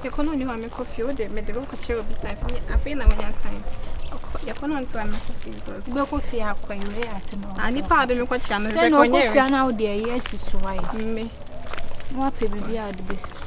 yɛkɔ no ɔni hɔ a mekɔ fie wode mede bɛkɔkyɛ obi sa afei na wanya time yɛkɔ no nto a mekɔ fie because wobɛkɔ fie akɔ ɛwɛ asɛm a nipa a wode mekɔkyea no sɛ na ɔkɔ fie na wode ɛyɛ asi so ayɛ mme na wapɛ biribi a wode bɛsi so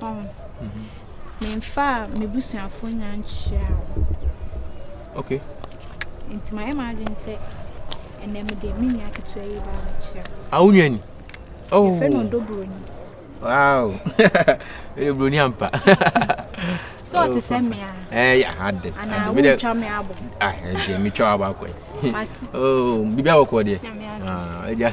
Ɔn. Me nfa a me busuafo nya nkyia wo. Ok. Nti ma yɛ ma adwen sɛ ɛnɛ me de me nua ketewa yi ba me kyia. A wo nua ni? Oh. Yɛ fɛ no ndo broni. Wow. Ele broni ampa. So oh, te sɛ me a. Eh ya hade. Ana wo twa me abo. Ah, eh me twa abo akwa. Mati. Oh, bibia wo kwa de. Ah, eja.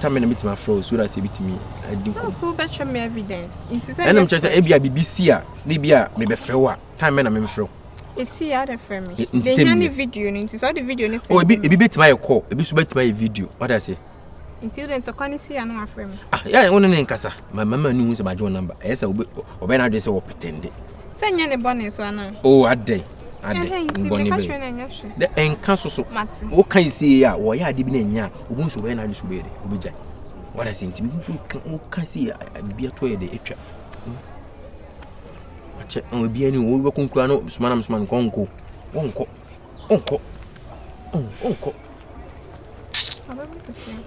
Tam na metumi afrɛ wo so that yɛbɛtumi adi nkɔmmɔ. Sɛ so bɛtwɛ me evidence nti sɛ. Ɛnam kyerɛ sɛ ebi a biribi si a na ebi a mebɛfrɛ wo a time bɛ na memfrɛ wo. Esi ya de frɛ me. Nti tɛm ne video no nti sɛ ɔde video no sɛ. Oh ebi ebi bɛtumi ayɛ call ebi nso bɛtumi ayɛ video ɔda ase. Nti wode ntɔkwa no si ya na wafrɛ me. Ah yɛ wo ne ne nkasa ma mama ne hu sɛ magye wo number ɛyɛ sɛ ɔbɛyɛ n'adwene sɛ wɔpɛtɛnde. Sɛ nyɛ ne bɔne so anaa? O adɛn, adɛn, ne bɔne bɛyɛ. Dɛ ɛnka so so. Woka yi sie a, wɔyɛ ade bi na ɛnyɛ a, obu nso wɔyɛ n'ade so bɛyɛ dɛ, obɛgya. Wada sɛ nti, woka sie a, biribi ato yɛ dɛ, atwa. Akyɛ, obi ani, wobɛkɔ nkura no, soma nam soma no, nkɔ nkɔ. Wonkɔ, wonkɔ, wonkɔ.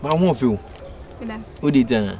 Ma wo ho ɔfew. Wode gyina.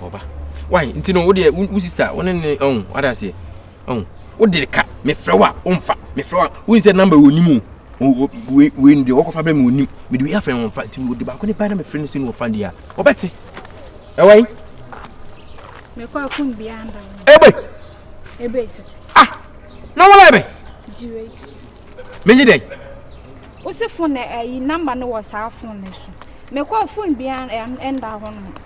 Ɔba. Why? Nti no, wo deɛ, wo sister, wo ne ne, ɔn, wada aseɛ. Ɔn, wo de ka, me frɛ wo a, wo mfa, me frɛ wo a, wo nsɛ number wɔ nim o. Wei, wei no deɛ, wɔkɔ fa bɛ mi wɔ nim. Me de wei afrɛ wɔn fa, nti wo de baako ne ba na me frɛ no si no wɔ fa deɛ a, ɔbɛ te. Ɛwɔ yi. Me kɔ akun bi anda. Ebe. Ebe sisi. Ah, na wɔn ebe. Jiwe. Me nye dɛ. Wosi fone ɛyi eh, namba no wɔ saa fone no so. Me kɔ fone bi anda hɔ no.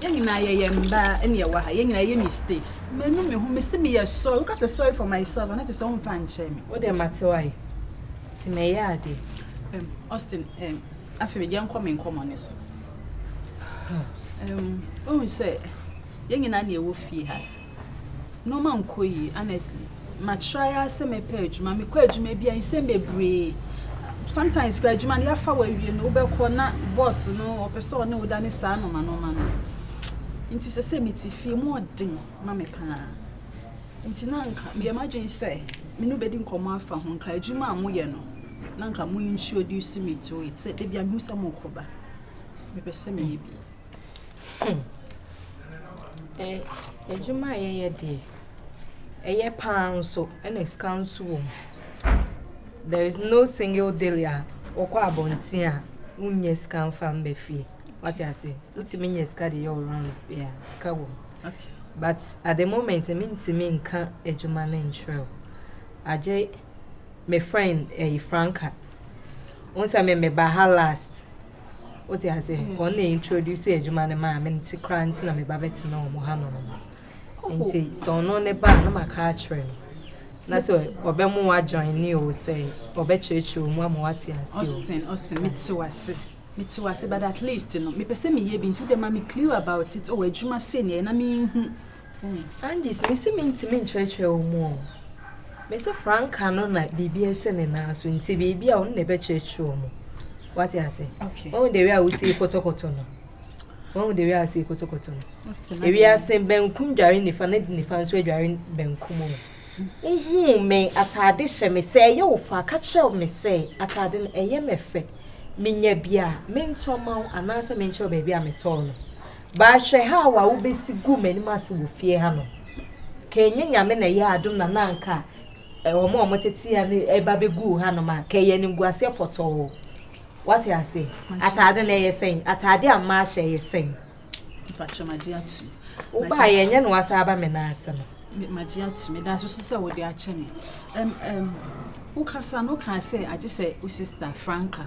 Yɛn nyinaa yɛyɛ mba na yɛwɔ ha, yɛn nyinaa yɛyɛ mistakes. Menu me ho, mese meyɛ sorry. Woka sɛ sorry for myself a, na kyerɛ sɛ womfa nkyerɛ me. Wodeɛ mate w'ayɛ, nti mɛyɛ adeɛ. Erm, Austin, erm, afei deɛ nkɔ me nkɔmmɔ no so. Erm, wohu sɛ yɛn nyinaa na yɛwɔ fie ha. Nnoɔma nkɔ yie honestly makyerɛ ara sɛ mɛpɛ adwuma mekɔ adwuma bi a nsɛm bebree sometimes kora adwuma no yɛafa wawie no wobɛkɔ na boss no ɔpɛ sɛ ɔne woda ne saa nɔma nɔma no nti sɛ sɛ mete fie mu ɔden ma me paa nti na nka meyɛ m'adwene sɛ me no bɛdi nkɔmmɔ afa ho nka adwuma a moyɛ no na nka mo introduce me to it sɛ da bia mehu sɛ mokɔba mepɛ sɛ meyɛ bi Adwuma a yɛyɛ deɛ, ɛyɛ pa ara nso, ɛna sika nso wɔ mu. There is no single day a wokɔ abɔnten a wonnya sika mfa mma fie. Wate aseɛ? Wotumi nya sika de yɛ wo rounds bi a, sika wɔ mu. But at the moment, mentumi nka adwuma no nkyerɛ wo. Agye me friend ɛyi Franca. Wo sɛ me meba ha last. wote ase mm. wɔn na introduce adwuma no maa me no ti koraa nti na meba bɛtena wɔn ha nom nti sɛ ɔno ne ba a na maka akyerɛ no na sɛ ɔbɛmo wajoin ne o sɛ ɔbɛkyerɛkyerɛ mu ama wate ase o Austin Austin mete wase mete wase but at least no mepɛ sɛ meyɛ bi nti wode ma me clue about it ɔwɔ oh, adwuma sei neɛ na menhu Angyes, mese mentumi nkyerɛkyerɛ wo mu ɔ. Mese Franka no na biribi ɛsɛ ne nan so nti biribi a ɔno na ɛbɛkyerɛkyerɛ wo mu. Wate ase? Wɔn de wia a wosi kɔtɔkɔtɔ no. Wɔn de wia a wosi kɔtɔkɔtɔ no. Ewia ase bɛnkum dware nifa ne nifa nso adware bɛnkum mu. Wohuu me ataade hyɛ me sɛ ɛyɛ wo fa ka kyerɛ me sɛ ataade no ɛyɛ me fɛ. Menya bi a mentɔ ma wo anaasɛ menkyerɛ baabi a metɔɔ no. Baahwɛ ha wo a wobesi guu m'anim ase wɔ fie ha no, ka ɛnyɛ Nyame na ɛyɛɛ adom na na anka wɔn a wɔtete ha no ɛba bɛguu hanom a, ka ɛyɛ animguaseɛ pɔtɔɔ. Wate ase? Ataade no ɛyɛ sɛn? Ataade a mmaa hyɛ ɛyɛ sɛn? Mpakyɛ magye ato. Wobaa yɛ ɛnyɛ na wasa aba me nan ase no. Magye ato me da so so sɛ wode akyɛ me. Ɛm ɛm wokasa no kaa sɛ agye sɛ wo sista Franca.